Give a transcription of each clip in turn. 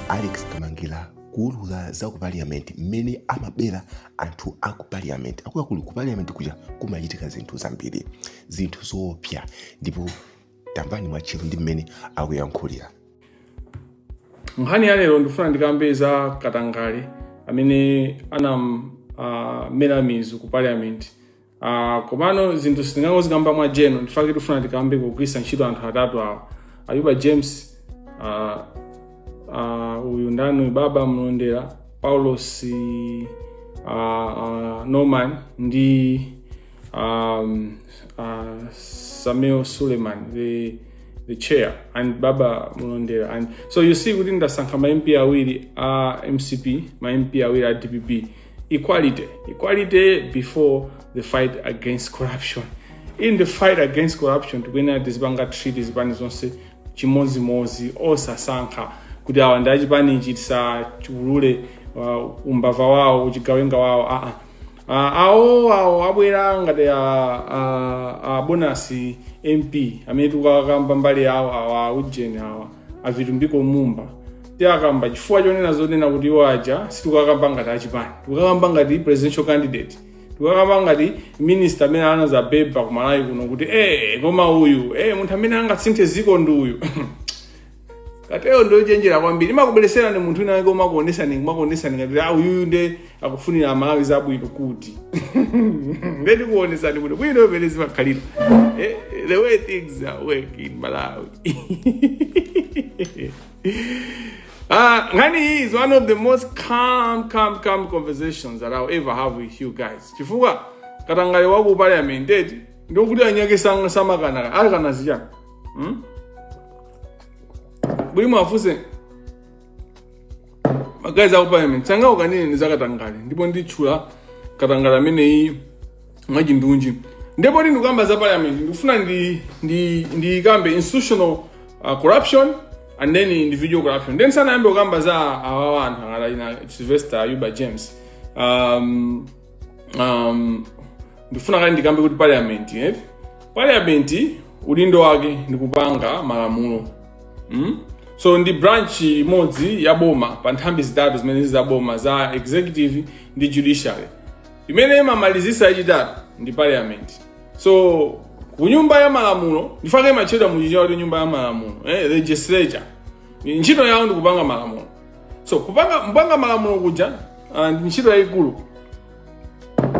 alex kamangila kuulula za ku parliament mmene amabera anthu a ku parliament akuluakulu ku parliament kuja kumachitika zinthu zambiri zinthu zoopsa ndipo tamvani mwatcheru ndi mmene akuyankhulira nkhani ya lero ndifuna ndikambe za katangale amene wamera mizu ku parliament Ah, komano zinthu sitingangozikamba mwa general ndifake ndifuna ndikambe kugwirisa ntchito anthu atatu awa ayuba james ah, ah, uyu ndani baba mlondera paulosi ah, ah, norman ndi um, uh, samuel suleiman the, the chair and baba mlondera and so you see kuti ndasankha ma mp awiri a mcp ma mp awiri a dpp equality equality before the fight against corruption in the fight against corruption tikuyenera tizipanga treat zipani zonse chimodzimodzi osasankha kuti awa ndi achipani ichi tisachiululire uh, umbava wawo uchigawenga wawo aa uh, awo awo abwera ngati a, a, a bonus mp amene tikukakamba mbali yawo awa ujeni awa a vitumbiko mumba tiakamba chifukwa chonena zonena kuti iwo aja sitikukakamba ngati achipani tikukakamba ngati presidential candidate tikukakamba ngati minister amene anazabebetsa ku malawi kuno kuti eh koma uyu eh munthu amene angatsinthe ziko ndi uyu cartel yo ndochenjera kwambiri imakubwereserani munthu wina wake kumakuonesani kumakuonesani ngati ah uyuyu nde akufunira amalawi zabwino kuti nde ndikuonesani bwino bwino mmene zimakhalira eh, the way things are working in malawi Ah, nkhani iyi is one of the most calm calm calm conversations that i'll ever have with you guys chifukwa katangale wa ku parliament eti ndikuti anyake sang- samakanaka akana zichani hmm? bule mwafunse magaizi aku parliament sangaukane ine ni za katangale ndipo nditchula katangale ameneyi mwachindunji ndipo ndi ndikukamba za parliament ndikufuna ndi ndi ndikambe institutional uh, corruption and then individual corruption then ndisanayambe kukamba za awawa anthu ngati ina sylvester ayuba james um, um, ndifuna kaye ndikambe kuti parliament eh? parliament udindo wake ndi kupanga malamulo mm? so ndi branch imodzi ya boma pa nthambi zitatu zimene zili za boma za executive ndi judiciary imene imamalizisa yachitatu ndi parliament so ku nyumba ya malamulo ndifake imatchedwa muchichewa kuti nyumba ya malamulo eh? legislature ntchito yawo ndi kupanga malamulo so kupanga kupanga malamulo kuja ah, ndi ntchito yayikulu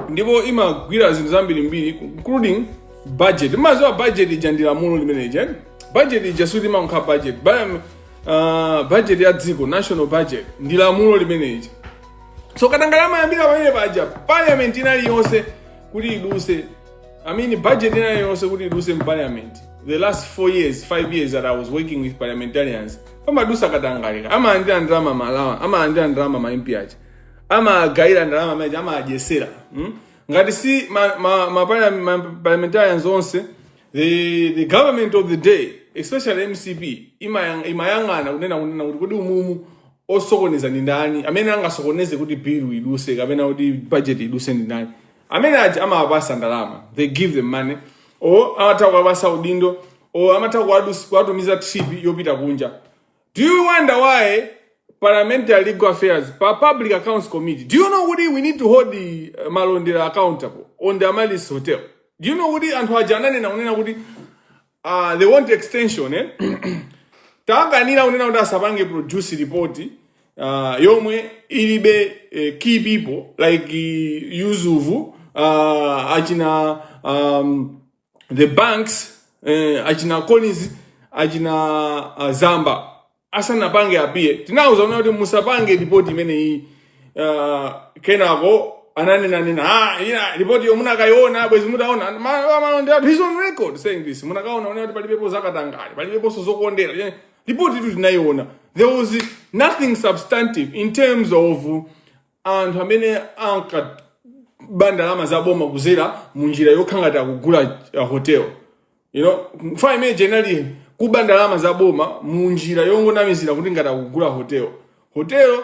ndipo imagwira zinthu zambirimbiri including budget madziwa budget ija ndi lamulo limene ija budget ija sikuti imakhala budget Ba- ah, budget ya dziko national budget ndi lamulo limene ija so katangale amayambira pamene paja parliament ina iliyonse kuti iduse i mean budget ina iliyonse kuti iduse mu parliament the last four years five years that i was working with parliamentarians pamadusa katangale amalandira ndalama ma lawyer amalandira ndalama ma MP aja amagawira ndalama ma judge amadyetsera mm? ngati si ma, ma, ma, parliam- ma parliamentarians onse the, the government of the day especially mcp imayang- imayang'ana kunena kunena kuti kodi umumu osokoneza ndi ndani amene angasokoneze kuti bill iduse kapena kuti budget iduse ndi ndani amene aja amawapasa ndalama they give them money or amatha kuwapasa udindo or amatha kuwadus- kuwatumiza trip yopita kunja do you wonder why parliamentary legal affairs PAC public accounts committee do you know kuti we need to hold the uh, Malondera accountable on the Amaryllis hotel do you know kuti anthu aja ananena kunena kuti uh, they want extension eh? tinakanira kunena kuti asapange produce report uh, yomwe ilibe uh, key people like uh, Yusuf uh, achina um, the banks eh, achina Colleen achina uh, Zamba asanapange appear tinawauza kunena kuti musapange ripoti imeneyi uh, kenako ananena kunena ah, ina ripotiyo munakaiona bwezi mutaona Ma- ma- ma- they are- he's on record saying this munakaona kunena kuti palibepo zakatangale palibeponso zokondera report yotu tinayiona there was nothing substantive in terms of anthu amene ankaba ndalama za boma kudzera mu njira yokhala ngati akugula uh, hotel you know mfundo imene generally kuba ndalama za boma mu njira yongonamizira kuti ngati akugula hotel Hotel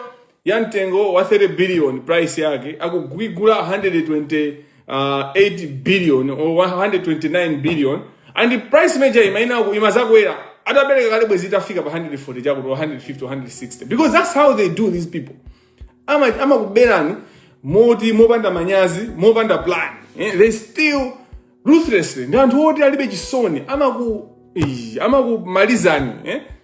ya mtengo wa 30 billion price yake akuigula 128 uh, billion or 129 billion and price imene ija inakamadzakwera atapereka kale bwezi itafika pa 140 chakuti 150 160 because that's how they do these people ama amakuberani moti mopanda manyazi mopanda plan eh? they steal ruthlessly ndi anthu oti alibe chisoni amaku amakumalizani eh?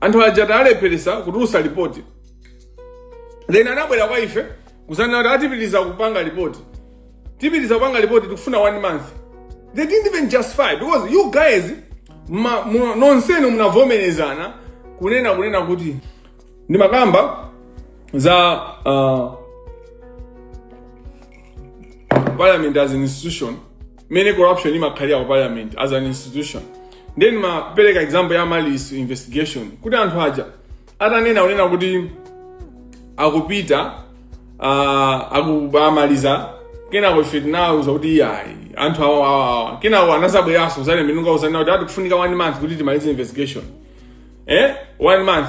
anthu aja tawalepheretsa kutulusa lipoti then anabwera kwa ife kuzanena kuti ati tipitiriza kupanga lipoti tipitiriza kupanga lipoti tikufuna one month they didn't even justify because you guys ma, mu, nonsenu munavomerezana kunena kunena kuti ndimakamba za uh, parliament as an institution mmene corruption imakhalira ku parliament as an institution then ndimapereka example ya malice investigation kuti anthu aja atanena unena kuti akupita uh, akukamaliza kenako ife tinauza kuti iyayi anthu awa awa awa kenako anadzabweranso kudzalemba ndi kudzanena kuti tikufunika one month kuti timalize investigation eh one month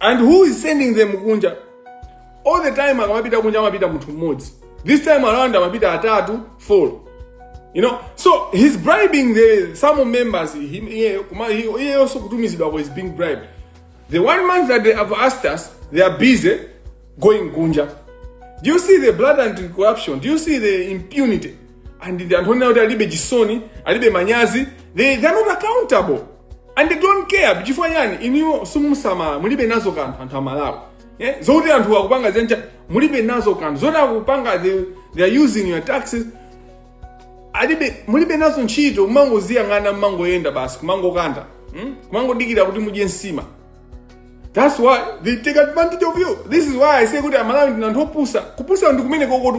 and who is sending them kunja all the time amapita kunja amapita munthu mmodzi this time around amapita atatu four you know so he's bribing the some members iyeyonso kutumizidwako is being bribed the one month that they have asked us they are busy going kunja do you see the blatant corruption do you see the impunity and the anthu onena kuti alibe chisoni alibe manyazi they, they are not accountable and they don't care chifukwa chani inuyo simusamala mulibe nazo kanthu anthu amalawi eh? zokuti anthu akupanga zinazake mulibe nazo kanthu zoti akupanga they, they are using your taxes alibe mulibe nazo ntchito kumangoziyang'ana mmangoyenda basi kumangokanda hmm? kumangodikira kuti mudye nsima that's why they take advantage of you this is why i say kuti amalawi ndinu anthu opusa kupusa ndi kumeneko kotu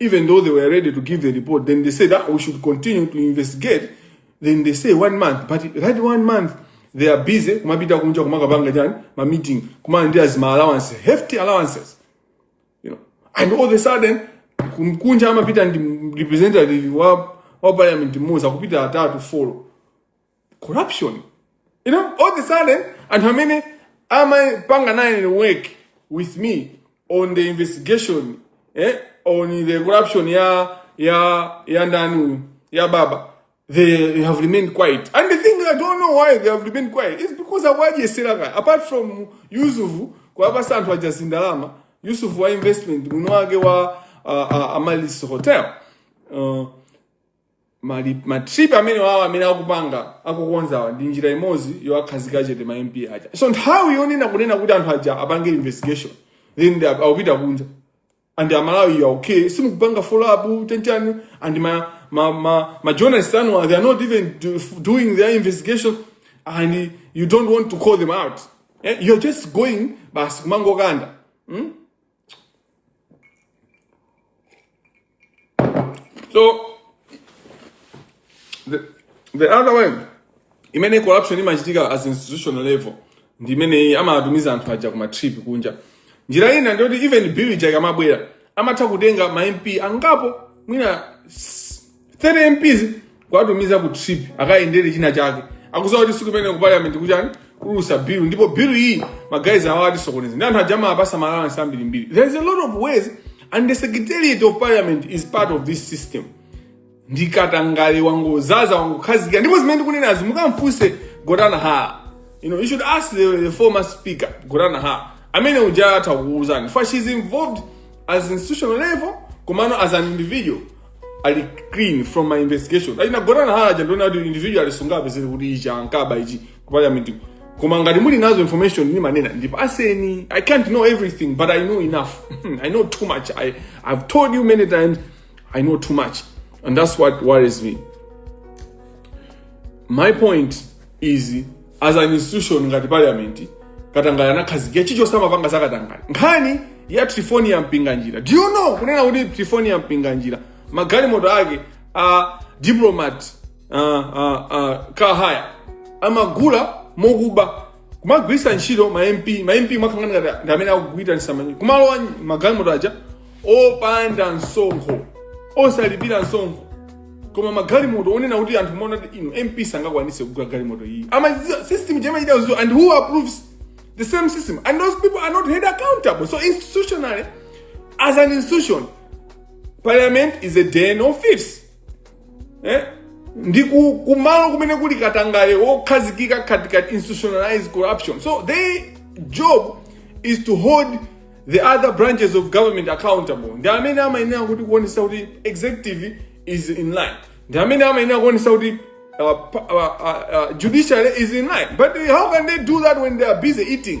Even though they were ready to give the report, then they said, ah, we should continue to investigate. Then they say one month, but that one month, they are busy kumapita kunja kumakapanga chani ma meeting kumalandira zima allowances hefty allowances you know and all of a sudden kum- kunja amapita ndi representative wa wa parliament mmodzi akupita atatu folo corruption you know all the sudden anthu amene amapanga naye work with me on the investigation eh, on the corruption ya ya ya ndani uyu ya baba they have remained quiet and the thing i don't know why they have remained quiet is because awadyesera kaya apart from yusufu kwapasa anthu aja zindalama yusufu wa investment muno wake wa uh, uh, amalis hotel uh, mali- ma trip amenewawa amene akupanga akukonzawa ndi njira imodzi yowakhazika chete ma mp aja so nthawi yonena kunena kuti anthu aja apange investigation then they are akupita kunja and amalawi you are okay simukupanga follow up nchani and ma ma ma, ma journalists anu they are not even do, doing their investigation and you don't want to call them out eh, you're just going basi kumangokanda so the, the other way imene corruption imachitika as institutional level ndi imeneyi amatumiza anthu aja kuma trip kunja njira ina ndiyoti even bill ija ikamabwera amatha kutenga ma mp angapo mwina 30 MPs kuwatumiza ku trip akayendere china chake akudziwa kuti tsiku limene ku parliament kuchani kudutsa bill ndipo bill iyi magaizi awa atisokoneza ndi anthu aja amawapatsa ma allowance ambirimbiri there is a lot of ways and the secretariat of parliament is part of this system ndikatangale wangodzaza wangokhazikira ndipo zimene ndikunenazi mukamfunse gotani hara you know you should ask the, the former speaker gotani hara amene uja atha kukuuzani for she's involved as institutional level komano as an individual ali clean from my investigation ali nagona na haja ndona kuti individual alisungabe zili kuti ichi ankaba ichi ku parliament koma ngati muli nazo information ni manena ndipo aseni i can't know everything but i know enough i know too much i i've told you many times i know too much and that's what worries me my point is as an institution ngati parliament katangale anakhazikira chichonse amapanga za katangale nkhani ya triephornia mpinganjira do you know kunena kuti triephornia mpinganjira magalimoto ake a diplomat uh, uh, uh, car hire amagula mokuba kumagwiritsa ntchito ma mp ma mp amakhala ngati ndi amene akuitanisa kumalowa magalimoto aja opanda msonkho osalipira msonkho koma magalimoto onena kuti anthu maona kuti ino mp sangakwanise kugula galimoto iyi amaziwa system ija amaiziwa and who approves the same system and those people are not held accountable so institutionally as an institution parliament is a den of thieves eh? ndi kumalo kumene kuli katangale wokhazikika katikati institutionalized corruption so their job is to hold the other branches of government accountable ndi amene amayenera kuti kuonesa kuti executive is in line ndi amene amayenera kuonesa kuti uh, uh, uh, uh, judiciary is in line but how can they do that when they are busy eating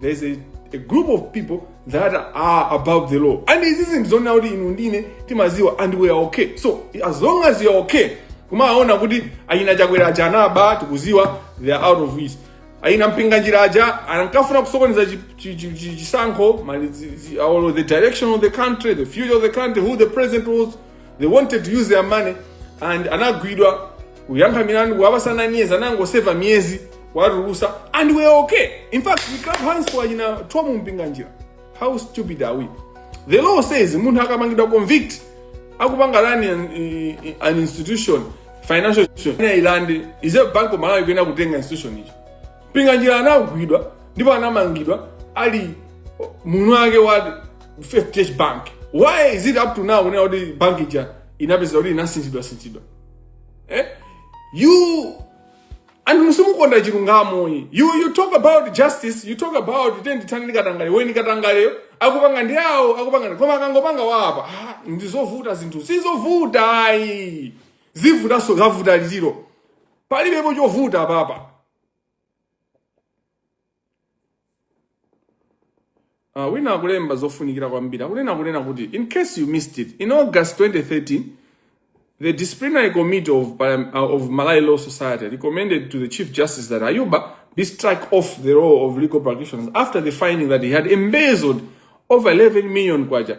there's a, a group of people that are above the law and izi zinthu zonena kuti inu ndine timaziwa and we are okay so as long as you are okay kumaona kuti achina chakwera aja anaba tikuziwa they are out of it achina mpinganjira aja ankafuna kusokoneza chi- chi- chi- chi- chisankho mali- zi- zi- or the direction of the country the future of the country who the president was they wanted to use their money and anagwidwa kuyankha milandu kuwapasa nine years anangoseva miyezi kuwatulusa and we are okay in fact we clap hands for achina thom mpinganjira how stupid are we the law says munthu akamangidwa convict akupanga run an, i- i- an institution financial institution Ina ilande reserve bank of malawi kuyenera kutenga institution icho mpinganjira anagwidwa ndipo anamangidwa ali mwini wake wa fdh bank why is it up to now kunena kuti bank ija inapeza kuti inasinthidwa sinthidwa eh? you anthu inu simukonda chilungamo ayi. you you talk about justice you talk about tiyeni tithane ndi katangale when katangaleyo akupanga ndi awo akupanga ndi koma akangopanga wapa ah, ndizovuta zinthu sizovuta ayi zivutanso zavuta litiro palibepo chovuta apapa Uh, wina akulemba zofunikira kwambiri akunena kunena kuti in case you missed it in august 2013 the disciplinary committee of, Parliam- uh, of malawi law society recommended to the chief justice that ayuba be struck off the role of legal practitioners after the finding that he had embezzled over 11 million kwacha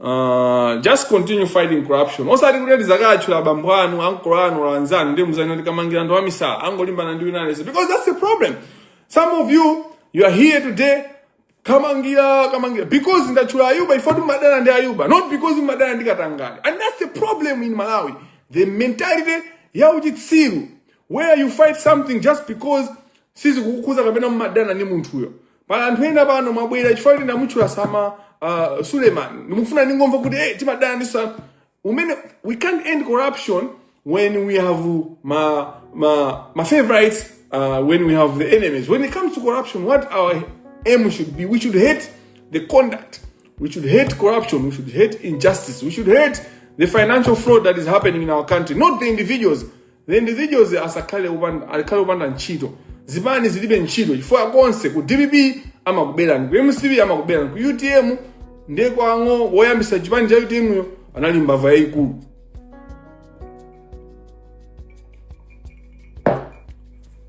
Uh, just continue fighting corruption osati kuti ati zakatchula abambo anu ankolo anu or anzanu ndiye muzanene kuti kamangila ndi amisala angolimbana ndi wina aliyense because that's the problem some of you you are here today kamangila kamangila because ndatchula ayuba ife timadana ndi ayuba not because timadana ndi katangale and that's the problem in malawi the mentality ya uchitsiru where you fight something just because sizikukukhuza kapena mumadana ndi munthuyo pala anthu ena pano mwabwera chifukwa kuti ndamutchula sama uh, suleiman ndimufuna ndingomva kuti hey, timadana ndi sa umene we can't end corruption when we have ma ma ma favorites uh, when we have the enemies when it comes to corruption what our aim should be we should hate the conduct we should hate corruption we should hate injustice we should hate the financial fraud that is happening in our country not the individuals the individuals asakhale upanda akhale upanda ntchito zipani zilibe ntchito chifukwa konse ku dpp amakuberani ku mcp amakuberani ku utm ndiye kwang'o woyambisa chipani cha utm yo anali mbava yayikulu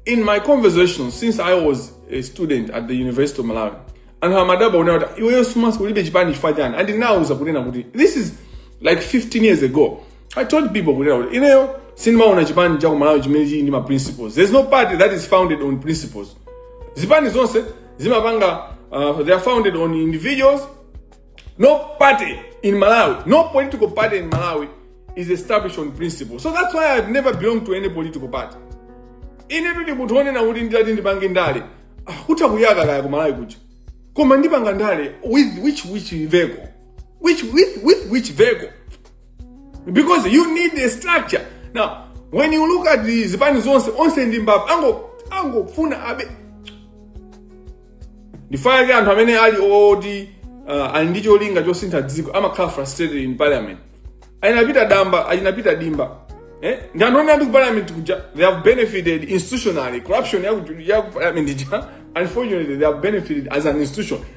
in my conversation since i was a student at the university of malawi anthu amadaba unena kuti iweyo sumas- ulibe chipani chifukwa chani andinauza kunena kuti this is like 15 years ago I told people kuti kuti ineyo sindimaona chipani cha kumalawi chimene chili ndi ma principles there's no party that is founded on principles zipani zonse zimapanga uh, they are founded on individuals no party in malawi no political party in malawi is established on principle so that's why i've never belonged to any political party ine ndili munthu onena kuti nditati ndipange ndale ah, kuthako ya kaya kumalawi kuja koma ndipanga ndale with which which vehicle which with with which vehicle because you need a structure now when you look at the zipani zonse onse ndi mbava ango angofuna abe ndichifukwa chake anthu amene ali oti uh, ali ndi cholinga chosintha dziko amakhala frustrated in parliament a Inapita damba a Inapita dimba eh? ndi anthu amene ali ku parliament kuja they have benefited institutionally corruption ya ku- ya ku parliament ija unfortunately they have benefited as an institution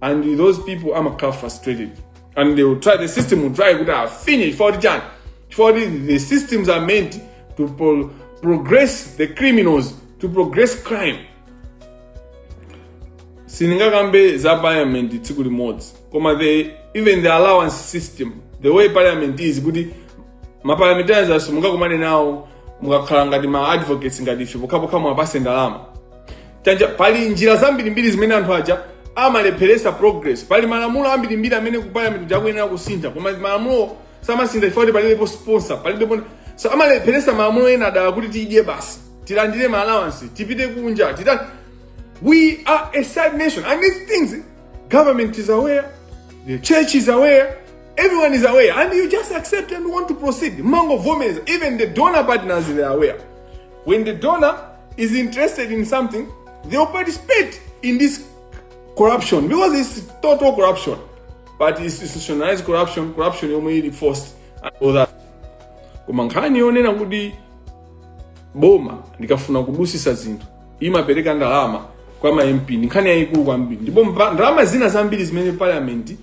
and those people amakhala frustrated and they will try the system will try kuti afinye chifukwa kuti chani chifukwa kuti the systems are meant to pro progress the criminals to progress crime sindingakambe za parliament tsiku limodzi koma the even the allowance system the way parliament is kuti maparlamentarians simungakumane nawo mukakhala ngati ma advocates ngati ife pokhapokha muwapase ndalama chani pali njira zambirimbiri zimene anthu aja amalepheresa progress pali malamulo ambirimbiri amene ku parliament akuyenera kusintha koma malamulo samasintha chifukwa kuti palibepo sponsor palibepo so amalepheresa malamulo ena adala kuti tidye basi tilandire ma allowance tipite kunja tita we are a sad nation and these things government is aware the church is aware everyone is aware and you just accept and want to proceed mangovomereza even the donor partners they are aware when the donor is interested in something, they will participate in this corruption because it's total corruption. But it's institutionalized corruption, corruption yomwe ili forced and all that. Koma nkhani yonena kuti boma likafuna kudusisa zinthu imapereka ndalama kwa ma MP ndi nkhani yayikulu kwambiri ndipo mba- ndalama zina zambiri zimene parliament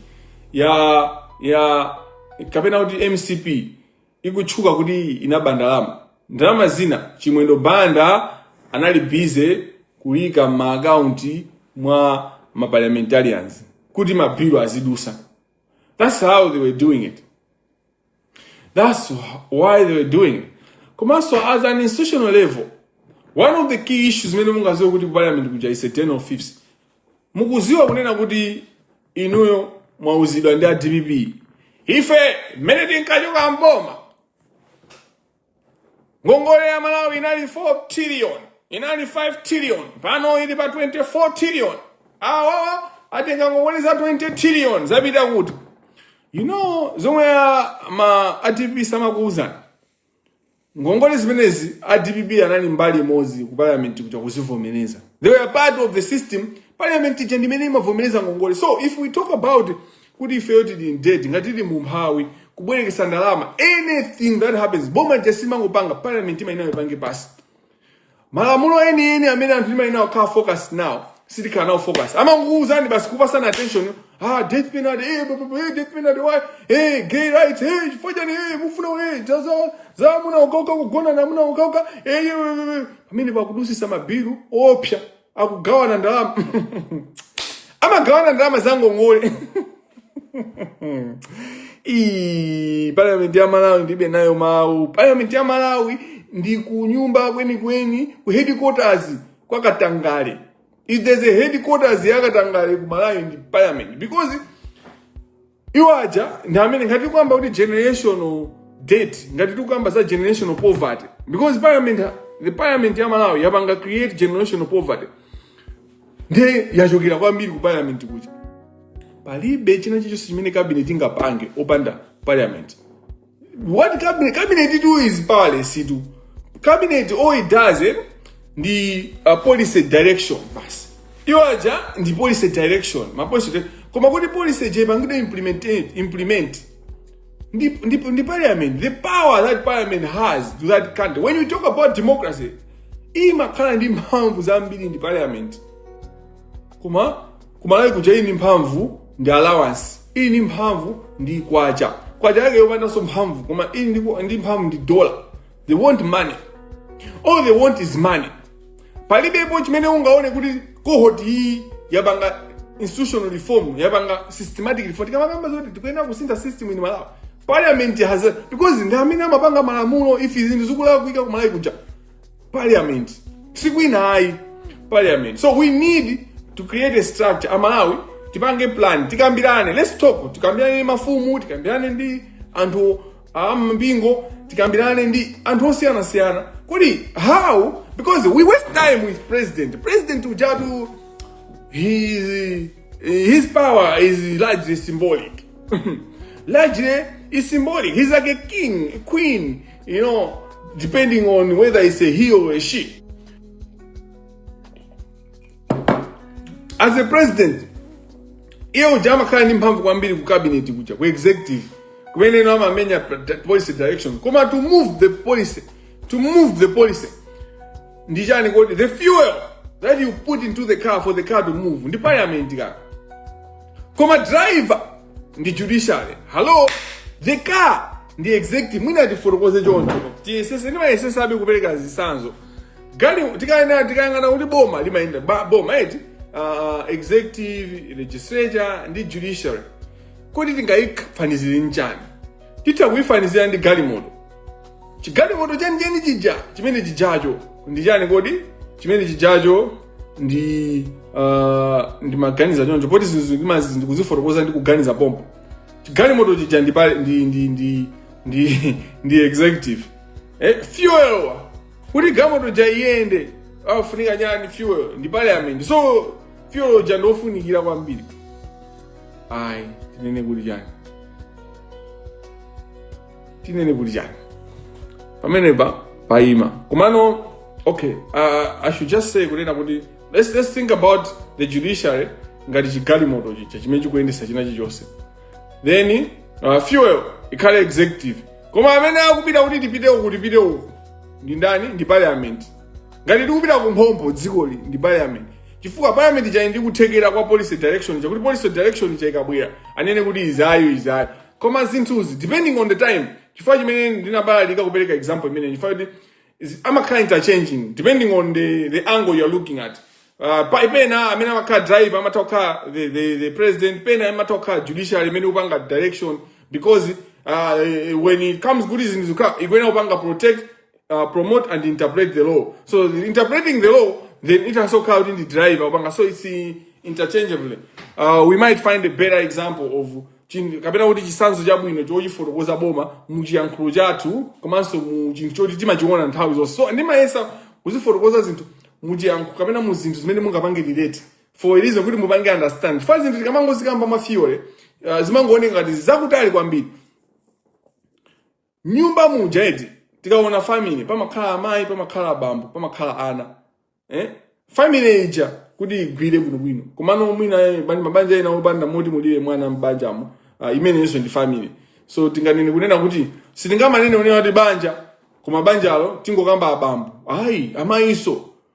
ya ya kapena kuti mcp ikutchuka kuti inaba ndalama ndalama zina chimwendo banda anali busy kuyika m'maakaunti mwa maparliamentarians kuti mabilu azidusa that's how they were doing it that's why they were doing it komanso at an institutional level one of the key issues imene mungaziwe kuti parliament kuja is a den of thieves mukuziwa kunena kuti inuyo mwauzidwa ndi a dpp ife mmene tinkachoka mboma ngongole ya malawi inali 4 trillion inali 5 trillion pano ili pa 24 trillion awawa atenga ngongole za 20 trillion zapita kuti you know zomwe a- ma a dpp samakuuzani Ngongole zimenezi a dpp anali mbali imodzi ku parliament kuja kuzivomereza. They were part of the system. Parliament ija ndi imene imavomereza ngongole. So if we talk about kuti ifeyo tili in debt, ngati tili mu umphawi, kubwerekesa ndalama, anything that happens, boma lija simangopanga, parliament imayenera ipange pass. malamulo enieni amene anthu timayenera kukhala focus nawo sitikhala nawo focus amangokuwuzani basi kupasana attention ah death penalty eh bu- bu- bu- eh, death penalty why eh gay rights eh chifukwa chani eh mufuna eh za za za amuna okauka kugona na amuna okauka eh eh, eh, eh. amene pakudusisa mabilu opsa akugawana ndalama amagawana ndalama zangongole Ii, parliament ya malawi ndilibe nayo mawu parliament ya malawi ndi ku nyumba kwenikweni ku headquarters kwa katangale if there's a headquarters ya katangale ku malawi ndi parliament because iwo aja ndi amene ngati tikukamba kuti generational debt ngati tikukamba za generational poverty because parliament the parliament ya malawi yapanga create generational poverty ndiye yachokera kwambiri ku parliament kuja palibe china chilichonse chimene cabinet ingapange opanda parliament what cabinet cabinet-tu is powerless-tu cabinet all it does eh, ndi uh, policy direction basi iwo aja ndi policy direction ma policy di- koma kuti policy ija ipangidwe implement implement ndi, ndi, ndi parliament the power that parliament has to that country when you talk about democracy imakhala ndi mphamvu zambiri ndi parliament koma kumalawi kuja ili ndi mphamvu ndi allowance ili ndi mphamvu ndi kwacha kwacha yake yopandanso mphamvu koma ili ndi, ndi mphamvu ndi dola they want money all they want is money palibepo chimene ungaone kuti cohort iyi yapanga institutional reform yapanga systematic reform tikamakamba zoti tikuyenera kusintha system in malawi parliament has a, because ndi amene amapanga malamulo if zinthu zikulakwika kumalawi kuja parliament sikwina ayi parliament so we need to create a structure amalawi tipange plan tikambirane let's talk tikambirane ndi mafumu tikambirane ndi anthu ampingo tikambirane ndi anthu osiyanasiyana kodi how because we waste time with president president ujatu he His power is largely symbolic. largely is symbolic. He's like a king, a queen, you know, depending on whether it's a he or a she. As a president, iye uja amakhala ndi mphamvu kwambiri ku cabinet kuja ku executive kumene ino amamenya policy direction koma to move the policy to move the policy ndi chani kodi the fuel that you put into the car for the car to move ndi parliament kaka koma driver ndi judiciary hello the car ndi executive mwina tifotokoze choncho tiyesese ndimayesesabe kupereka zisanzo galimoto tikayenda tikayang'ana kuti boma limayenda ba- boma eti uh, executive legislature ndi judiciary kodi tingayifanizire nchani titha kuyifanizira ndi galimoto chigalimoto chenicheni chija chimene chijacho ndi chani kodi chimene chijacho ndi uh, ndimaganiza choncho poti zinthu zimazi ndikuzifotokoza ndi kuganiza pompo chigalimoto chija ndi pale ndi ndi ndi ndi ndi executive eh, fuel wa kuti galimoto ja iyende afunika chani fuel ndi parliament so fuel ja ndofunikira kwambiri ayi tinene kuti chani tinene kuti chani pamenepa paima komano okay uh, i should just say kunena kuti let's, let's think about the judiciary ngati chigalimoto chija chimene chikuyendesa china chilichonse then uh, fuel ikhale executive koma amene akupita kuti tipite uku tipite uku ndi ndani ndi parliament ngati tikupita kumphompho dzikoli ndi parliament chifukwa parliament ija ili ndi kuthekera kwa policy direction chakuti policy direction ija ikabwera anene kuti izi ayi izi ayi koma zinthuzi depending on the time chifukwa chimene ndinabalalika kupereka example imene chifukwa kuti is- amakhala interchanging depending on the, the angle you are looking at uh, pa- pena amene amakhala driver amatha kukhala the, the, the president pena amatha kukhala judiciary imene ikupanga direction because uh, when it comes kuti zinthu zikhala ikuyenera kupanga protect uh, promote and interpret the law so interpreting the law then it has kukhala kuti ndi driver kupanga so it's interchangeably uh, we might find a better example of kapena kuti chisanzo chabwino chochifotokoza boma mu chiyankhulo chathu komanso mu chinthu choti timachiona nthawi zonse so ndimayesa kuzifotokoza zinthu mu chiyankhulo kapena mu zinthu zimene mungapange relate for a reason kuti mupange understand chifukwa zinthu tikamangozikamba ma theory uh, zimangooneka ngati zakutali kwambiri nyumba muja eti tikaona family pamakhala amayi pamakhala abambo pamakhala ana eh? family ija kuti igwire bwinobwino komano mwina eh, bani- mabanja ena opanda moti mulibe mwana m'banjamo uh, imenenso ndi family so tinganene kunena kuti sitingamanene kunena kuti banja koma banjalo tingokamba abambo ayi amayinso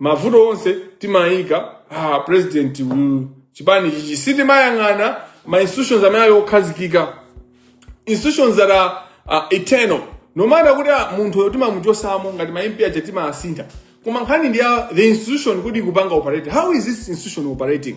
mavuto onse timaika ah, president uyu chipani chichi sitimayang'ana ma institutions amene ali okhazikika institutions that are uh, eternal no matter kuti ah, munthu uyo timamuchotsamo ngati ma mp aja timawasintha koma nkhani ndi ya the institution kuti ikupanga operate how is this institution operating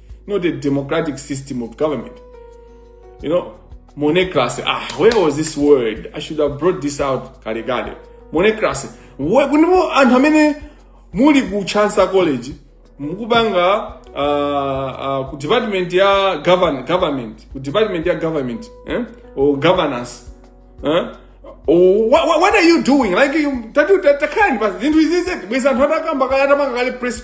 not a democratic system of government. You know, monocracy. Ah, where was this word? I should have brought this out, Karigade. Monocracy. Inu anthu amene muli ku Chancellor College mukupanga uh, uh, ku department ya govern, government ku department ya government eh? or governance eh? Oh, what, what, what are you doing like you tatu takani basi zinthu izizi bweza anthu atakamba kaya atamanga kale press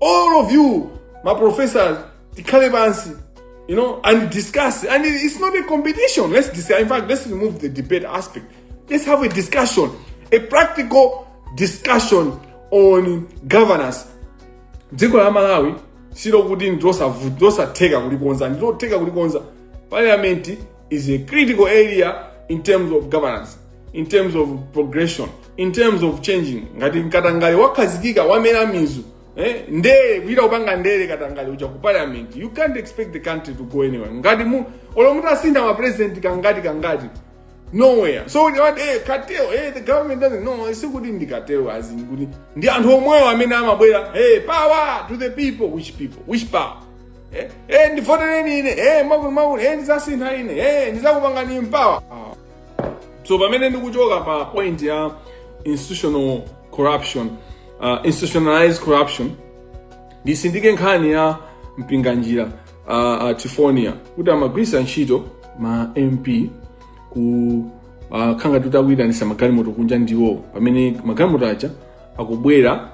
all of you my professors tikhale pansi you know and discuss and it's not a competition let's discuss in fact let's remove the debate aspect let's have a discussion a practical discussion on governance dziko la malawi silokuti ndilosavuta losatheka kulikonza ndilotheka kulikonza parliament is a critical area in terms of governance in terms of progression in terms of changing ngati katangale wakhazikika wamera mizu eh, ndere kuchita kupanga ndere katangale uja ku parliament you can't expect the country to go anywhere ngati mu olo mutasintha ma president kangati kangati nowhere so kuti wati eh, cartel eh, the government doesn't know sikuti ndi cartel as in kuti ndi anthu omwewo amene amabwera hey power to the people which people which power eh, eh, ndivotereni ine eh, akuluakulu eh, ndizasintha ine eh, ndizakupangani power ah. so pamene ndikuchoka pa point ya institutional corruption uh, institutionalized corruption ndisindike nkhani ya mpinganjira uh, uh, trifonia kuti amagwirisa ntchito ma mp ku uh, khanga tutakuyitanisa magalimoto kunja ndiye pamene magalimoto aja akubwera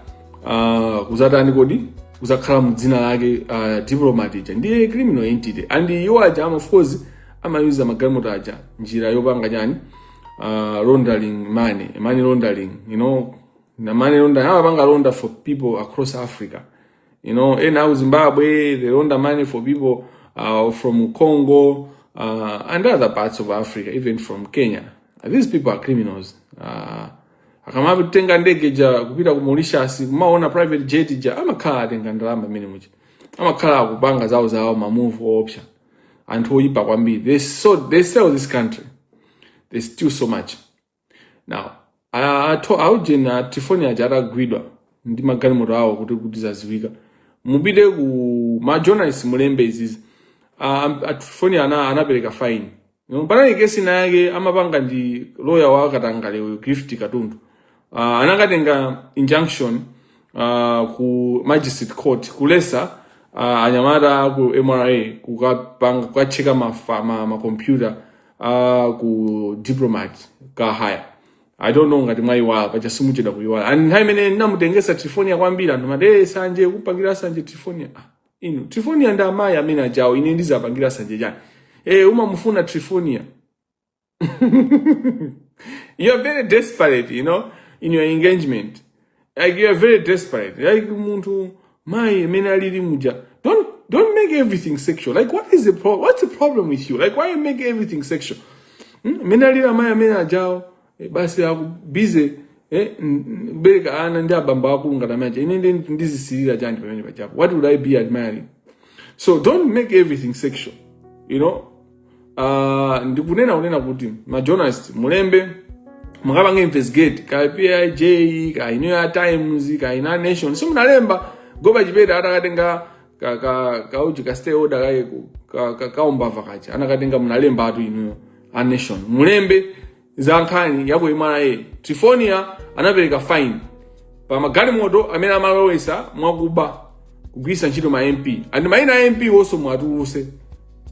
uh, kuzatani kodi kuzakhala mdzina lake uh, diplomat ija ndiye criminal entity and iwo aja ama of course amayuza magalimoto aja njira yopanga chani uh, laundering money money laundering you know na money laundering amapanga launder for people across africa you know ena aku zimbabwe they launder money for people uh, from congo uh, and other parts of africa even from kenya these people are criminals uh, akamatenga ndege ja kupita ku Mauritius kumaona private jet ja amakhala atenga ndalama imene muja amakhala akupanga zawo zawo ma move option anthu oyipa kwambiri they so they sell this country they steal so much now anthu aujeni a trifonia aja atagwidwa ndi magalimoto awo kuti kuti zaziwika mupite ku ma journalist mulembe izizi a trifonia ana anapereka fine panali kesi ina yake amapanga ndi loya wa katangale uyu gift katundu uh, anakatenga injunction uh, ku magistrate court kuletsa uh, anyamata aku mra kukapanga kukatcheka mafa- ma- makompyuta uh, ku diplomat car hire i don't know ngati mwayiwala paja simuchedwa kuyiwala and nthawi imene ndinamutengesa trifonia kwambiri anthu amati "Eh, sanje kumpangira sanje trifonia ah. inu trifonia ndi amayi amene ajawo ine ndizapangira sanje chani eh umamufuna trifonia you are very desperate you know in your engagement like you are very desperate like munthu mayi amene alili muja don't don't make everything sexual like what is the pro what's the problem with you like why you make everything sexual Hmm? amene alili amayi amene ajawo e, basi ali busy eh, kubereka ana ndi abambo akulu ngati awaja ine ndi ndizisirira chani pamene pajapo what would i be admiring so don't make everything sexual you know uh, ndikunena kunena kuti majournalist mulembe mukapange investigate ka pij kena ka times kena ka nation simunalemba goba chipeta atakatenga ka ka ka uji ka stay order kaye ku- ka ka kaumbava kaja anakatenga mnalemba anthu inuyo a nation mulembe za nkhani ya ku mra trifonia anapereka fine pa magalimoto amene amalowesa mwakuba kugwirisa ntchito ma mp and maina a mp wonse mwatuluse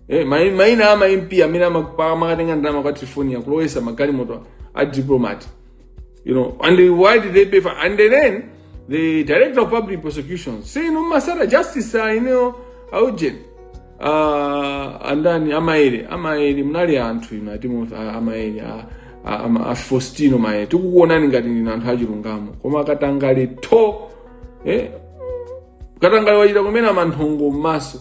Eh, mai- maina ama mp amene ama- pa- amakatenga ndalama kwa trifonia kulowesa magalimoto a diplomat You know, and they, why did they pay for? And then the director of public prosecutions say, you know, Masara justice, uh, you know, aujeni. Uh, and then a Maele a Maele munali anthu inu atimo a Maele a Fostino Maele tikukuonani ngati ndinu anthu achilungamo koma katangale tho eh? katangale wachita kumene manthongo m'maso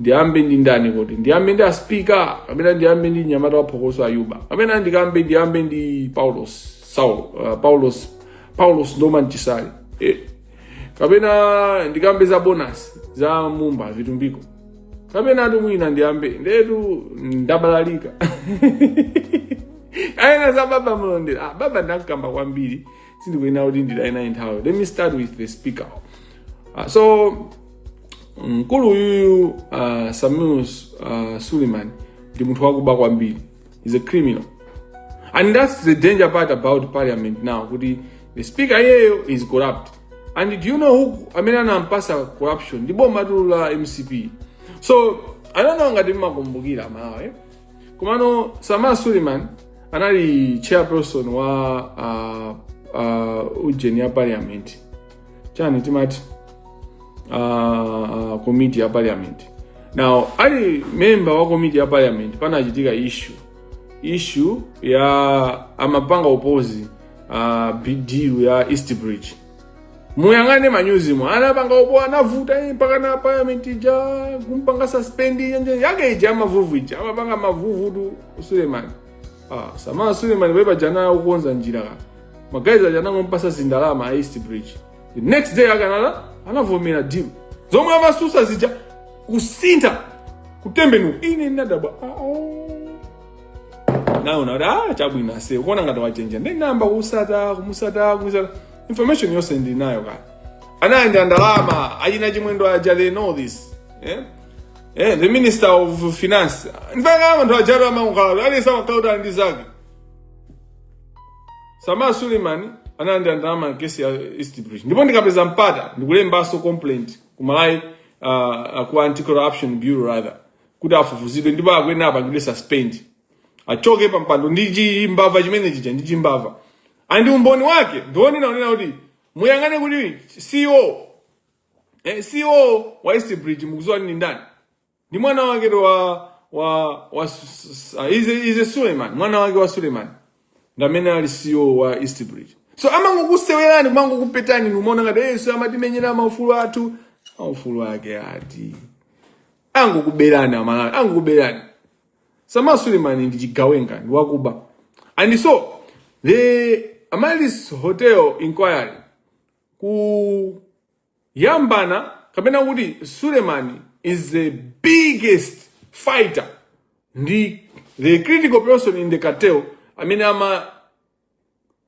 ndiyambe ndi ndani kodi ndiyambe ndi aspika kapena ndiyambe ndi mnyamata waphokoso ayuba kapena ndikambe ndiyambe ndi paulos saulo uh, paulos paulos norman chisale eh. kapena ndikambe za bonasi za mumba vitumbiko kapena ati mwina ndiyambe ndetu ndabalalika kapena za baba malondera ah, baba ndamkamba kwambiri sindikuyenera kuti nditaye naye nthawi let me start with the speaker uh, so mkulu uyuyu uh, sameer uh, suleiman ndi munthu wakuba kwambiri he's a criminal and that's the danger part about parliament now kuti the speaker iyeyo is corrupt and do you know who amene anampasa corruption ndi bomatu la mcp so i don't know ngati mmakumbukira amalawi komano samar suleiman anali chairperson wa uh, uh, ujeni ya parliament chani timati uh, uh, komiti ya parliament now ali memba wa komiti ya parliament panachitika issue issue ya amapanga opozi uh, bidilu ya east bridge muyang'ane manyuzimo anapanga oppose anavuta eh, mpaka na parliament ija kumpanga suspend yenje yake ija amavuvu ija amapanga mavuvu tu Suleiman ah sama Suleiman beba jana ukonza njira ka magaizi aja anangompasa zindalama a East Bridge the next day akanala anavomera deal zomwe amasusa zija kusintha kutembenuka ine ndadabwa ah, oh. naona kuti ah chabwino ase ukuona ngati wachenjera ndinayamba kusata kumusata kumusata information yonse ndili nayo kale anayenda ndalama achina chimwendo aja they know this eh? Eh, the minister of finance ndipanga anthu ajatu amakhala aliyense amakhala ali ndi zake sama suleiman anayenda ndalama m'kesi ya east bridge ndipo ndikapeza mpata ndikulembanso complaint ku malawi uh, ku anti corruption bureau rather kuti afufuzidwe ndipo akuyenera apangidwe suspend achoke pampando ndi chimbava chimene chija ndi chimbava and umboni wake ndiwonena kunena kuti muyang'ane kuti ceo eh, ceo wa east bridge mukuziwa ni ndani ndi mwana waketu wa wa wa uh, ize ize suleiman mwana wake wa suleiman ndamene ali ceo wa east bridge so amangokusewerani kumangokupetani nkumaona ngati yesu amatimenyera maufulu athu maufulu ake ati angokuberani amalawi angokuberani Sama Suleiman ndi chigawenga ndi wakuba. And so the Amaryllis Hotel inquiry kuyambana kapena kuti Suleiman is the biggest fighter ndi the critical person in the cartel amene ama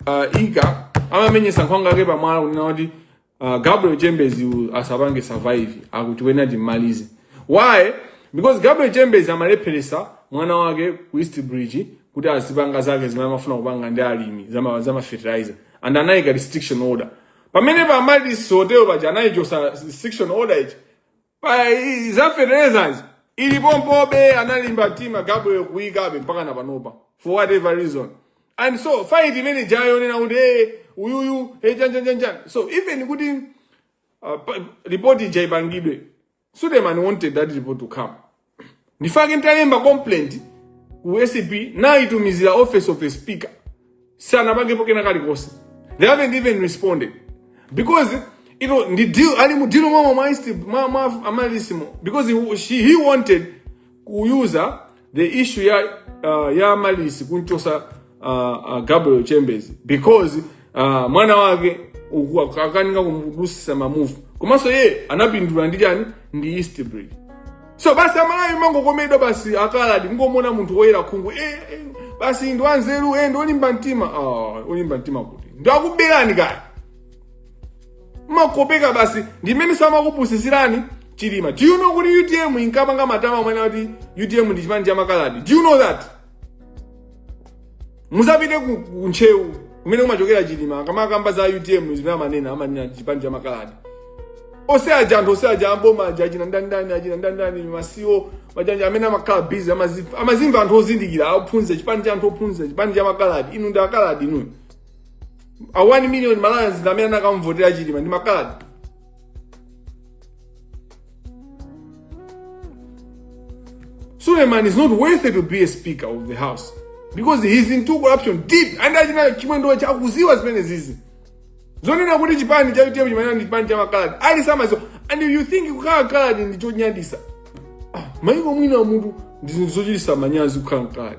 uh, ika amamenyesa nkhwangwa yake pamwala kunena kuti uh, gabriel chambers uyu asapange survive a kutikwena timmalize why because gabriel chambers amalepheresa mwana wake ku east bridge kuti azipanga zake zimene amafuna kupanga ndi alimi zama, zama fertilizer and anayika restriction order pamene pa Amaryllis Hotel paja anayichosa restriction order ija Pa- i- za fertilizers ili pompobe analimba mtima gabriel kuyikabe mpaka na panopa for whatever reason and so fight imene ijayo kunena kuti hey, uyuyu hey, chanchanchancha so even kuti uh, pa- report ija ipangidwe suleiman wanted that report to come ndi chifukwa chake ntalemba complaint ku acb nayitumiziranso office of the speaker sanapangepo kena kalikonse they haven't even responded because you know, ndi deal ali mu deal mwa mwa insti- mwa mwa amaryllis mo because he, she, he wanted kuyuza the issue ya uh, ya amaryllis kumchosa uh, uh, gabriel chambers because uh, mwana wake uku- ak- akukanika kumudusisa mamuvu komanso iye anapindula ndi chani ndi eastbridge so basi amalawi mangokomedwa basi akaladi kungomuona munthu woyera khungu eh, eh, basi ndi wanzeru eh, ndi olimba mtima ah, olimba mtima kuti ndi akuberani kaya makopeka basi ndimene samakupusisirani chilima do you know kuti utm inkapanga matama omanena kuti utm ndi chipani cha makaladi do you know that muzapite ku ku ntcheu kumene kumachokera chilima akamakamba za utm zimene amanena amanena chipani cha makaladi ose aja anthu ose aja amboma aja achina ndandani achina ndandani masiwo majanja amene amakhala bizi amazimva anthu ozindikira ophunzira chipani cha anthu ophunzira chipani cha makaladi inu ndi akaladi inu a 1 million malawians ndi amene anakamvotera chilima ndi makaladi Suleiman is not worthy to be a speaker of the house because he's into corruption deep and achina chimwendo aja akuziwa zimenezizi zonena kuti chipani cha utm chimenechi ndi chipani cha makaladi ali samaziwa and you think kukhala kaladi ndi chonyadisa ah, maiko ena munthu ndi zinthu zochitisa manyazi kukhala mkaladi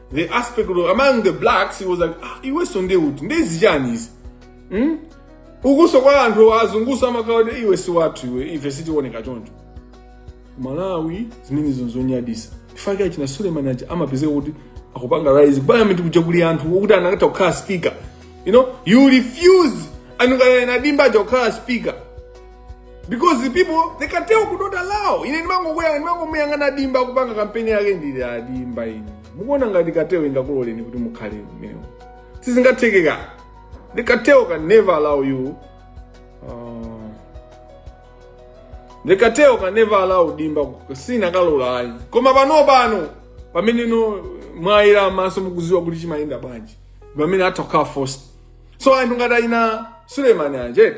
the aspect of among the blacks he was like ah, iwenso nde uti nde zichani izi hmm? ukunso kwa anthu azungunso amakhala kuti iwe si wathu iwe ife sitiwoneka choncho malawi zimenezo nzonyadisa ndi chifukwa chake achina suleiman aja amapezeka kuti akupanga rise parliament kuja kuli anthu okuti anakatha kukhala speaker you know you refuse munakana a dimba aja kukhala speaker because the people the cartel could not allow ine ndimangokhala ndimangomuyang'ana dimba akupanga kampeni yake ndili adimba ine mukuona ngati cartel ingakuloleni kuti mukhale mmewo sizingatheke the cartel can never allow you uh, the cartel can never allow dimba sinakalola ayi koma pano pano pamene inu mwayera maso mukuziwa kuti chimayenda bwanji pamene atha kukhala forced so anthu ngati aina suleiman anjeti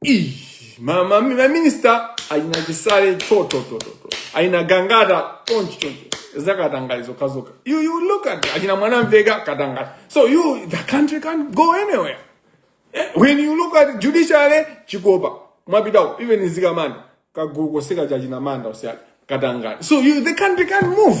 Ih, ma, ma, ma minister achina chisale totototo aina gangata chonchi chonchi zakatangale zokhazoka you, you look at achina mwanamveka katangale so you the country can't go anywhere Eh, when you look at judiciary chikopa mwapita uyo even zikamanda kagulu konse ka achina manda onse katangale so you, the country can't move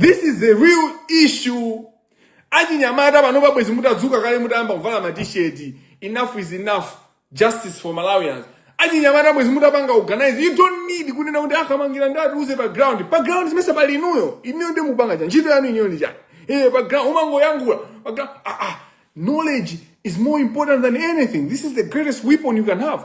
this is a real issue achinyamata pano bwezi mutadzuka kale mutayamba kuvala matisheti enough is enough justice for malawians achinyamata bwezi mutapanga organize you don't need kunena kuti akamangila atiuze pa ground pa ground ndimesa pali inuyo inuyo ndi mupanga cha ntchito yanu inuyo ndi chani eh pa ground umangoyankhula pa ground ah ah knowledge is more important than anything this is the greatest weapon you can have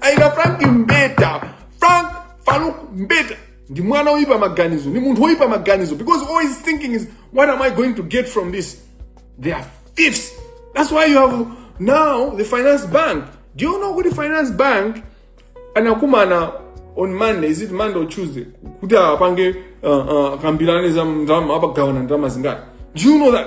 aina frank mbeta frank farouk mbeta ndi mwana oyipa maganizo ndi munthu oyipa maganizo because all he's thinking is what am i going to get from this they are thieves that's why you have now the finance bank do you know kuti finance bank anakumana on monday is it monday or tuesday kuti apange uh, uh, akambirane za ndalama apa agawana ndalama zingati do you know that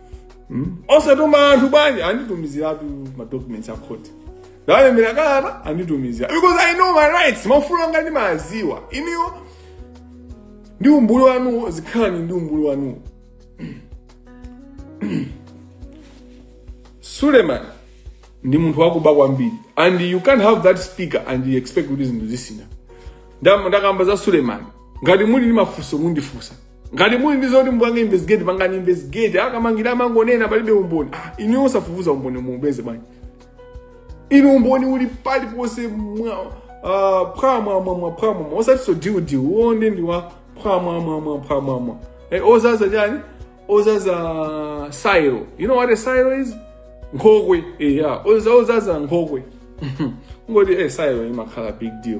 Hmm? osatuma anthu bwanji anditumiziratu madocuments a khoti ndawalembera kalata anditumizira because i know my rights maufulu anga ndimawaziwa inuyo ndi umbuli wanuwo zikhalani ndi umbuli wanuwo suleman ndi munthu wakuba kwambiri and you can't have that speaker and you expect kuti zinthu zisintha ndakamba za suleman ngati muli ndi mafunso mundifunsa ngati muli ndi zoti mupange investigate pangani investigate akamangila amangonena palibe umboni ah, inu osafufuza umboni muupeze bwanji inu umboni uli pali ponse mwa ah, phwamwamwamwa phwamwamwa osatiso diudiu uone ndi wa phwamwamwamwa phwamwamwa Eh, ozaza chani ozaza silo you know what a silo is nkhokwe eya ozaza nkhokwe ngoti eh silo imakhala big deal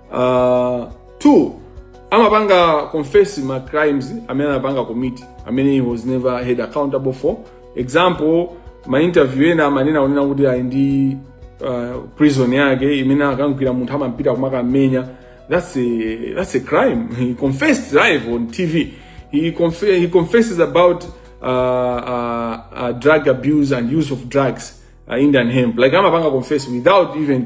uh, two amapanga confess ma crimes amene anapanga commit amene he was never held accountable for example ma interview ena amanena kunena kuti ali ndi uh, prison yake imene akamgwira munthu amampita kumakamenya that's a, that's a crime he confessed live on tv he, conf he confesses about uh, uh, uh, drug abuse and use of drugs uh, indian hemp like amapanga confess without even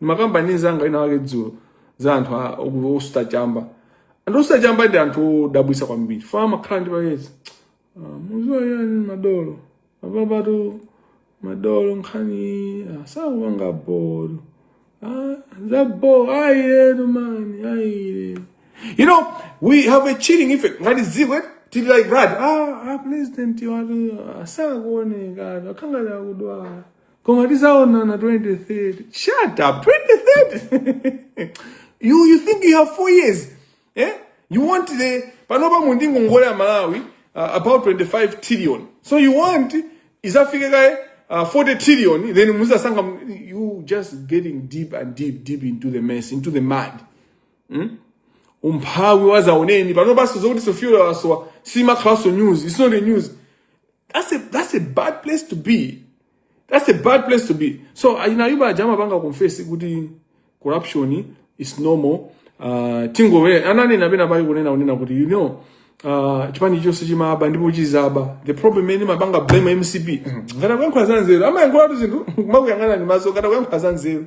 ndimakamba ndi nzanga ina wake dzulo za anthu osuta chamba anthu osuta chamba ndi anthu odabwisa kwambiri fana amakhala ndi payezi mukudziwa ndi madolo apapatu madolo nkhani ah, sakupanga bolo Ah, za bo ayi man ayi you know we have a chilling effect ngati ziko eh, tili like that ah, ah president wathu sakuonekatu akhala ngati akudwala koma tizaonana 2030 shut up 2030 you, you think you have four years eh? you want the panopa mundingo ngole ya malawi uh, about 25 trillion so you want izafike kaye uh, 40 trillion then muzasanga you just getting deep and deep deep into the mess into the mud hmm? umphawi wazaoneni panopaso zokuti fuel wasowa simakhalanso news it's not a news that's a, that's a bad place to be that's a bad place to be so a Ayuba aja amapanga confess kuti corruption is normal uh, tizolowere ananena pena pake kunena kunena kuti you know uh, chipani chonse chimaba ndipo chizaba the problem is mumapanga blame mcp ngati akuyankhula za nzeru amayankhulatu zinthu makuyang'ana ndi maso ngati akuyankhula za nzeru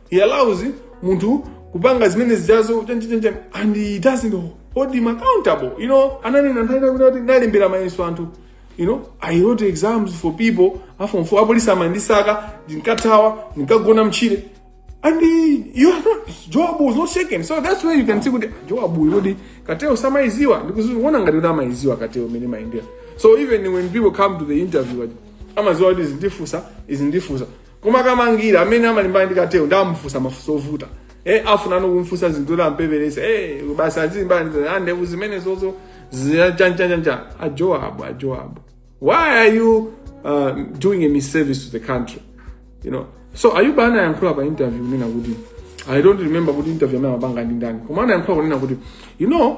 he allows munthu kupanga zimene zijazo chanchichancha and he doesn't hold him accountable you know ananena nthawi ina kuti ndalembera mayeso anthu you know i wrote exams for people aform four apolisi amandisaka ndinkathawa ndinkagona mtchire and he- you are not joab was not shaken so that's where you can see kuti joab yo ndi kateo samaiziwa amaziona ngati kuti amaiziwa kateo mmene imayendera so even when people come to the interview aja, amaziwa kuti izi ndifunsa izi ndifunsa koma kamangila amene amalimbana ndi kateyo nde amufunsa mafunso ovuta eh afunano kumfunsa zinthu kuti ampeperese eh basi azilimbana ndi ah, ndevu zimene zozo zichanchanchanja a joab a joab why are you uh, doing a misservice to the country you know so ayuba anayankhula pa interview kunena kuti i don't remember kuti interview ina amapanga ndi ndani koma anayankhula kunena kuti you know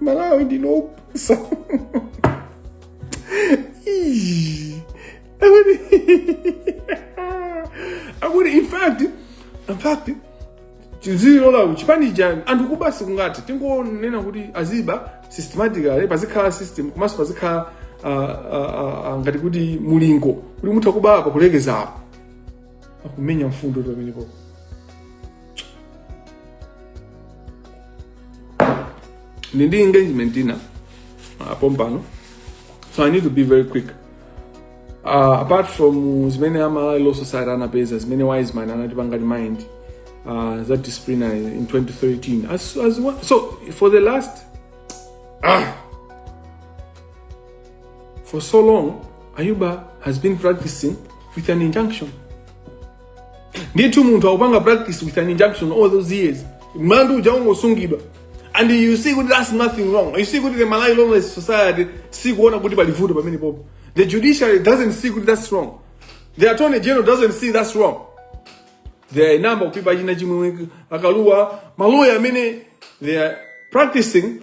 malawi ndinopusa akuti akuti in fact in fact tizilola chipani chani anthu kuba basi kungoti tingonena kuti aziba systematically pazikhala system komanso pazikhala ah, ah, ah, ah, ngati kuti mulingo kuti mutha kuba apa kulekeza apa akumenya mfundo tu pamenepo ndi ndi engagement ina uh, pompano so i need to be very quick uh, apart from uh, zimene a malawi law society anapeza zimene wiseman anatipanga remind uh, za disciplinary in 2013 as, as one, so for the last ah, For so long, Ayuba has been practicing with an injunction. Ndithu munthu akupanga practice with an injunction all those years. Mlandu uja ungosungidwa. And you see kuti that's nothing wrong. You see kuti the Malawi Lawless Society si kuona kuti pali vuto pamene popo. The judiciary doesn't see kuti that's wrong. The attorney general doesn't see that's wrong. There are a number of people achina chimwe akaluwa maloya amene they are practicing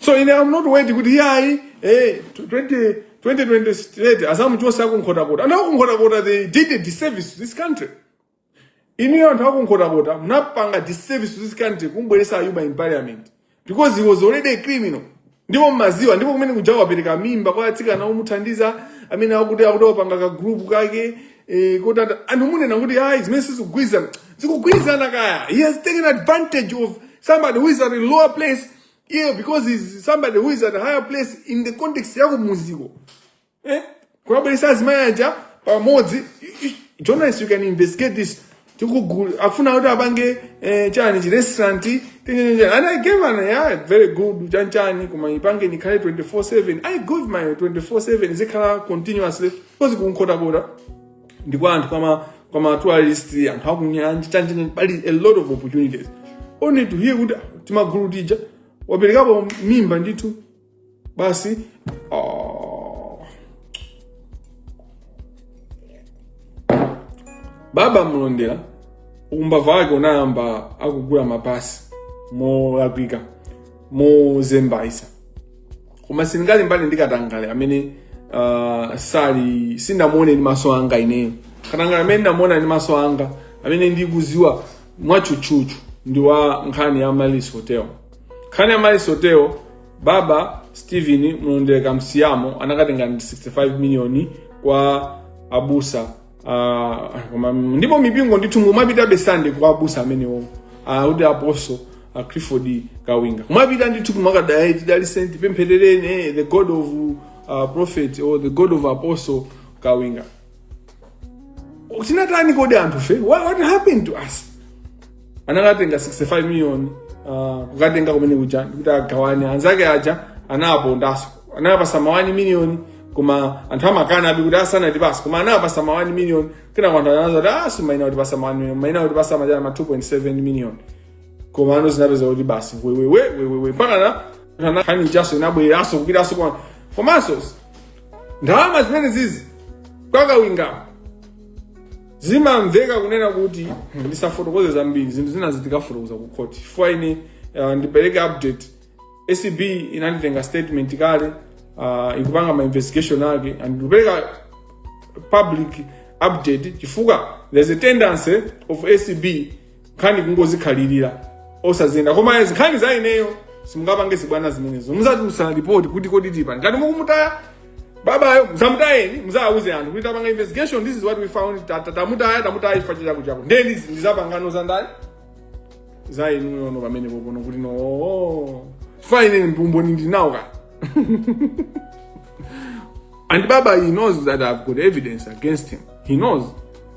so i am not waiting kuti yayi eh 20 2028 asamuchose akunkhotakota anthu akunkhotakota they did a disservice to this country inuyo anthu akunkhotakota munapanga disservice to this country kumubweresa ayuba in parliament because he was already a criminal ndipo mmaziwa ndipo kumene kuja wapereka mimba kwa atsikana omuthandiza amene akuti akuti wopanga ka group kake eh, kuti ata- anthu mukunena kuti ayi zimene sizikugwirizana zikugwirizana kaya he has taken advantage of somebody who is at a lower place yeah, because he's somebody who is at a higher place in the context yakumuziko eh? kuwabweretsa azimayi aja pamodzi I- I- journalist you can investigate this tikugula afuna kuti apange eh, chani chi restaurant tinyenye chani. and i gave an yeah, very good chanichani koma ipange nikhale 24/7 i gave my 24/7 zikhala continuously because kunkhotakota ndi kwa anthu kwama kwama tourist anthu akunyanja chanichani pali a lot of opportunities only to hear kuti timagulu tija waperekapo mimba ndithu basi oh. baba mlondera umbava wake unayamba akugula mapasi molakwika mozembaisa koma sindingalimbane ndi katangale amene uh, sali sindamuone ndi maso anga ineyo katangale amene ndamuona ndi maso anga amene ndikuziwa mwatchutchutchu ndi wa nkhani ya malis hotel nkhani ya malis hotel baba stephen mlondera kamsiyamo anakatenga 65 miliyoni kwa abusa ah, koma- ndipo mipingo ndithu mumapitabe sande kwa abusa amenewo ah, kuti apostle ah, clifford kawinga mumapita ndithu kumakagwada tidaliseni tipempherereni eh, the god of uh, prophet or the god of apostle kawinga tinatani kodi anthufe what, what happened to us anakatenga 65 million uh, kukatenga kumene kuja kuti agawane anzake aja anawapondaso anawapasa mawani miliyoni koma anthu amakana abi kuti asanatipasa koma anawapasa mawani miliyoni kena kwa anthu anza kuti asu maina kutipasa mawani miliyoni maina kutipasa majana ma 2.7 miliyoni koma anazapeza kuti basi wewewe wewewe mpaka na nkhani ijaso inabwereranso kupitaso kwa komanso ndalama zimene zizi kwa Kawinga po zimamveka kunena kuti hmm, ndisafotokoze zambiri zinthu zina zitikafotokoza ku court chifukwa ine uh, ndipereke update acb inanditenga statement kale uh, ikupanga ma investigation ake and ndipereka public update chifukwa there's a tendency of acb nkhani kungozikhalira osaziyenda koma nkhani za ineyo simungapange zibwana zimenezo muzatiuza ripoti kuti kodi tipani ngati mukumutaya babayo muzamutayeni muzawuze anthu kuti tapanga investigation this is what we found Ta- ta- tamutaya tamutaya chifukwa chakuti chakuti ndiye ndizi ndizapangano za ndani za inuyo no pamene pompano kuti no oh, chifukwa ine umboni ndinawo kaya And Baba, he knows that I've got evidence against him. He knows.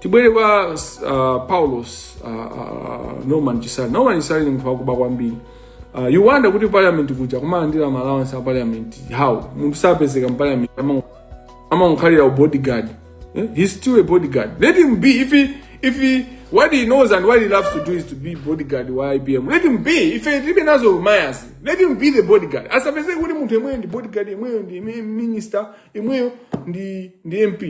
tibwere kwa uh, paulos uh, uh, norman chisale norman chisale ndi munthu wakuba kwambiri uh, you wonder kuti parliament kuja kumalandira ma allowance a parliament how munthu sapezeka mparliament amango- amangokhalira ubodyguard eh? he's still a bodyguard let him be if he, if he, what he knows and what he loves to do is to be bodyguard wa ibm let him be ife tilibe nazo ma issue let him be the bodyguard asapezeke kuti munthu yemweyo ndi bodyguard yemweyo ndi ime- minister yemweyo ndi, ndi mp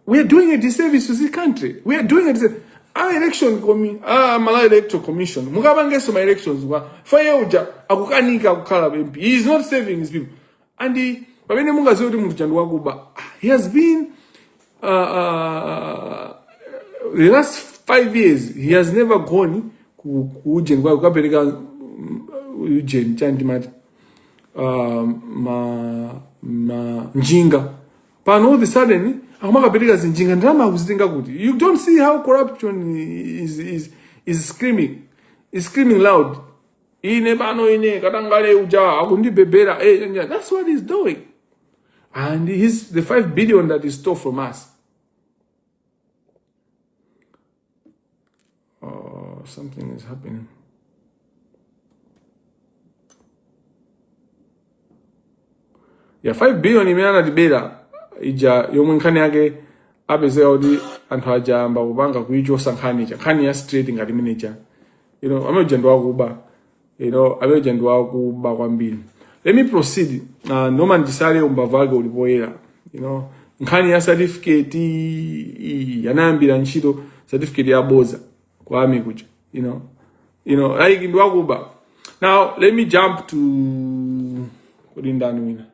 We are doing a disservice to this country. We are doing a disservice. Our election commi ah Malawi Electoral Commission mukapangenso ma elections kwa faye uja akukanika kukhala MP. He is not saving his people. And he, pamene mungaziwe kuti munthu chandu wakuba he has been uh, uh, the last five years he has never gone ku ku ujeni kwa kukapereka mm, ujeni chanti mati uh, ma ma njinga pano all the sudden akumakapereka zinjinga ndalama akuzitenga kuti you don't see how corruption is, is, is screaming is screaming loud ine pano ine katangale uja akundibhebhera eh, eh, eh, that's what he's doing and he's the 5 billion that he stole from us Oh, something is happening. yeah 5 billion imene anatibera ija yomwe nkhani yake apezeka kuti anthu aja ayamba kupanga kuichosa nkhani ija nkhani ya straight ngati imeneja you know amene uja ndi wakuba you know amene uja ndi wakuba kwambiri let me proceed uh, norman chisale umbava wake uli poyera you know nkhani ya certificate iyi anayambira ntchito certificate ya boza ku army kuja you know you know like ndi wakuba now let me jump to kodi ndani wina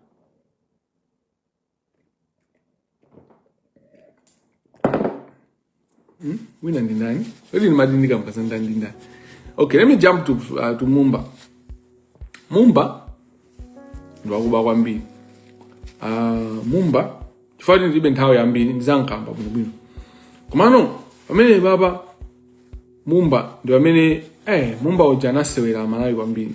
Hmm? Wina ndi ndani? Kodi ndimati ndikamba za ndani ndi ndani? Okay, let me jump to, uh, to Mumba. Mumba ndi wakuba kwambiri. Uh, Mumba chifukwa kuti ndilibe nthawi yambiri ndizankamba bwinobwino. Komano pamene baba Mumba ndi amene eh Mumba uja anasewera aMalawi kwambiri.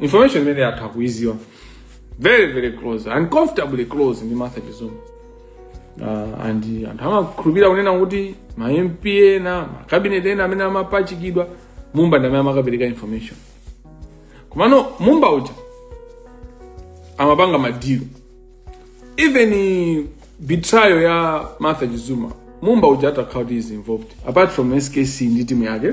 information imene atha kuiziwa very very close uncomfortably close ndi martha chizuma uh, and anthu amakhulupirira kunena kuti ma mp ena ma cabinet ena amene amapachikidwa mumba ndi amene amakapereka information komano mumba uja amapanga madilo even betrayal ya martha chizuma mumba uja atha kukhala kuti is involved apart from skc ndi timu yake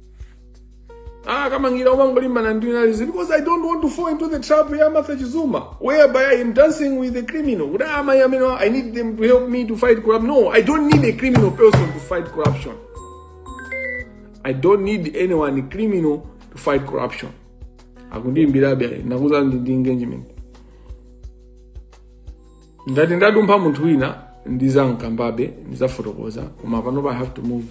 Ah, kama ngira wangu lima na ndina lizi because I don't want to fall into the trap ya Martha Chizuma whereby I am dancing with the criminal. What am I, I mean, I need them to help me to fight corruption. No, I don't need a criminal person to fight corruption. I don't need anyone criminal to fight corruption. Akundi mbirabe nakuza ndi engagement. ngati ndadumpha munthu wina ndizankambabe ndizafotokoza koma panopa i have to move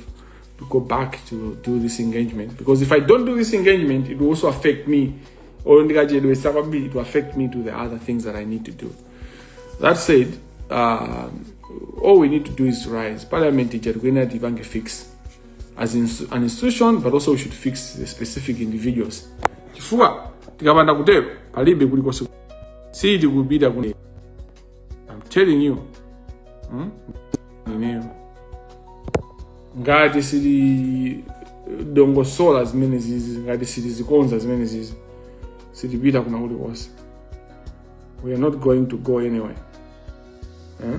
to go back to do this engagement because if i don't do this engagement it will also affect me or ndikachedwesa kwambiri it will affect me to the other things that i need to do that said um, all we need to do is to rise parliament ija tikuyenera tipange fix as in, an institution but also we should fix the specific individuals chifukwa tikapanda kutero palibe kulikonse sitikupita kune I'm telling you hmm? ineyo ngati sitilongosola zimene zizi ngati sitizikonza zimene zizi sitipita kwina kulikonse we are not going to go anywhere eh?